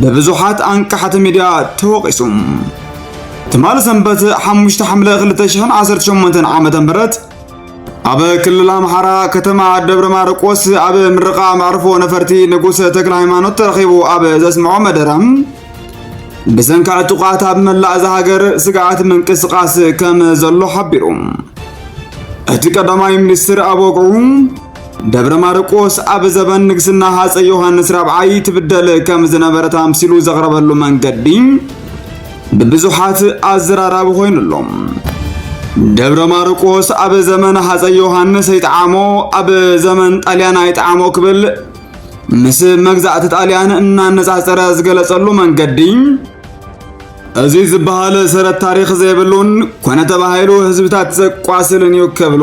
ብብዙሓት ኣንቃሕቲ ሚድያ ተወቒሱ። ትማሊ ሰንበት 5 ሓምለ 2018 ዓመተ ምህረት ኣብ ክልል ኣምሓራ ከተማ ደብረ ማርቆስ ኣብ ምርቓ መዕርፎ ነፈርቲ ንጉሰ ተክለ ሃይማኖት ተረኺቡ ኣብ ዘስምዖ መደረ ብሰንኪ ዕጡቓት ኣብ መላእ እዛ ሃገር ስግኣት ምንቅስቓስ ከም ዘሎ ሓቢሩ። እቲ ቀዳማይ ሚኒስትር ኣብ ወግዑ ደብረ ማርቆስ ኣብ ዘበን ንግስና ሃፀ ዮሐንስ ራብዓይ ትብደል ከም ዝነበረት ኣምሲሉ ዘቕረበሉ መንገዲ ብብዙሓት ኣዘራራቢ ኮይኑ ኣሎ። ደብረ ማርቆስ ኣብ ዘመን ሃፀ ዮሐንስ ይጥዓሞ ኣብ ዘመን ጣልያን ኣይጥዓሞ ክብል ምስ መግዛእቲ ጣልያን እናነጻጸረ ዝገለጸሉ መንገዲ እዚ ዝበሃል ሰረት ታሪኽ ዘይብሉን ኮነ ተባሂሉ ህዝብታት ዘቋስልን እዩ ክብሉ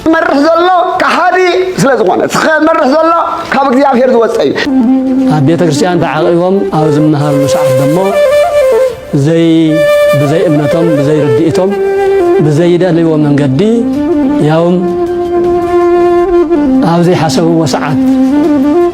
ዝመርሕ ዘሎ ከሓዲ ስለ ዝኾነ ዝመርሕ ዘሎ ካብ እግዚኣብሔር ዝወፀ እዩ ኣብ ቤተ ክርስቲያን ተዓቂቦም ኣብ ዝመሃርሉ ሰዓት ደሞ ዘይ ብዘይ እምነቶም ብዘይ ርድኢቶም ብዘይደልይዎ መንገዲ ያውም ኣብ ዘይሓሰብዎ ሰዓት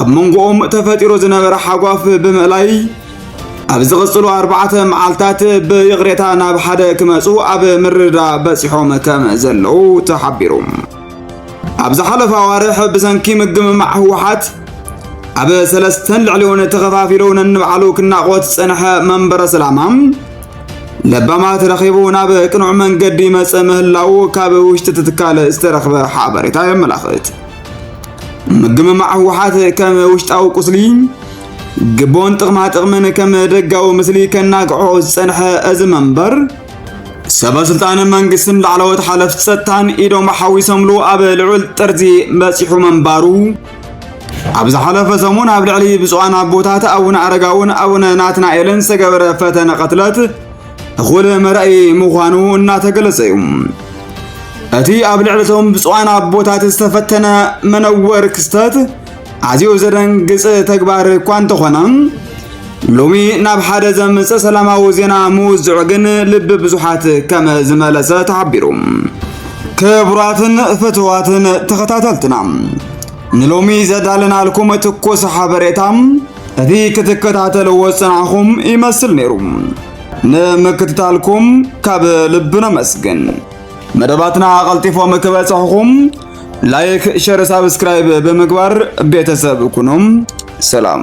ኣብ መንጎኦም ተፈጢሩ ዝነበረ ሓጓፍ ብምእላይ ኣብ ዝቕጽሉ ኣርባዕተ መዓልታት ብይቕሬታ ናብ ሓደ ክመጹ ኣብ ምርዳ በጺሖም ከም ዘለዉ ተሓቢሩ ኣብ ዝሓለፈ ኣዋርሕ ብሰንኪ ምግምማዕ ህወሓት ኣብ ሰለስተን ልዕሊውን ተኸፋፊሉ ነንባዕሉ ክናቖት ዝጸንሐ መንበረ ሰላማ ለባማት ረኺቡ ናብ ቅኑዕ መንገዲ መጸ ምህላው ካብ ውሽጢ ትካል ዝተረኽበ ሓበሬታ የመላኽት። ምግምማዕ ህወሓት ከም ውሽጣዊ ቁስሊ ግቦን ጥቕማ ጥቕምን ከም ደጋዊ ምስሊ ከናግዖ ዝጸንሐ እዚ መንበር ሰበ ስልጣን መንግስትን ላዕለዎት ሓለፍቲ ጸጥታን ኢዶም ሓዊሶምሉ ኣብ ልዑል ጥርዚ በጺሑ ምንባሩ ኣብ ዝሓለፈ ሰሙን ኣብ ልዕሊ ብፁዓን ኣቦታት ኣቡነ ኣረጋውን ኣቡነ ናትናኤልን ዝተገበረ ፈተነ ቅትለት እኹል መራኢ ምዃኑ እናተገለጸ እዩ። እቲ ኣብ ልዕለቶም ብፁዓን ኣቦታት ዝተፈተነ መነወር ክስተት ኣዝዩ ዘደንግጽ ተግባር እኳ እንተኾነ ሎሚ ናብ ሓደ ዘምጽእ ሰላማዊ ዜና ምውዝዑ ግን ልቢ ብዙሓት ከም ዝመለሰ ተሓቢሩ። ክቡራትን ፍትዋትን ተኸታተልትና ንሎሚ ዘዳለናልኩም ትኩስ ሓበሬታ እቲ ክትከታተልዎ ዝጸናሕኹም ይመስል ነይሩ። ንምክትታልኩም ካብ ልቢ ነመስግን። መደባትና ቀልጢፎም ክበጽሕኹም ላይክ፣ ሸር፣ ሳብስክራይብ ብምግባር ቤተሰብ ኩኑም። ሰላም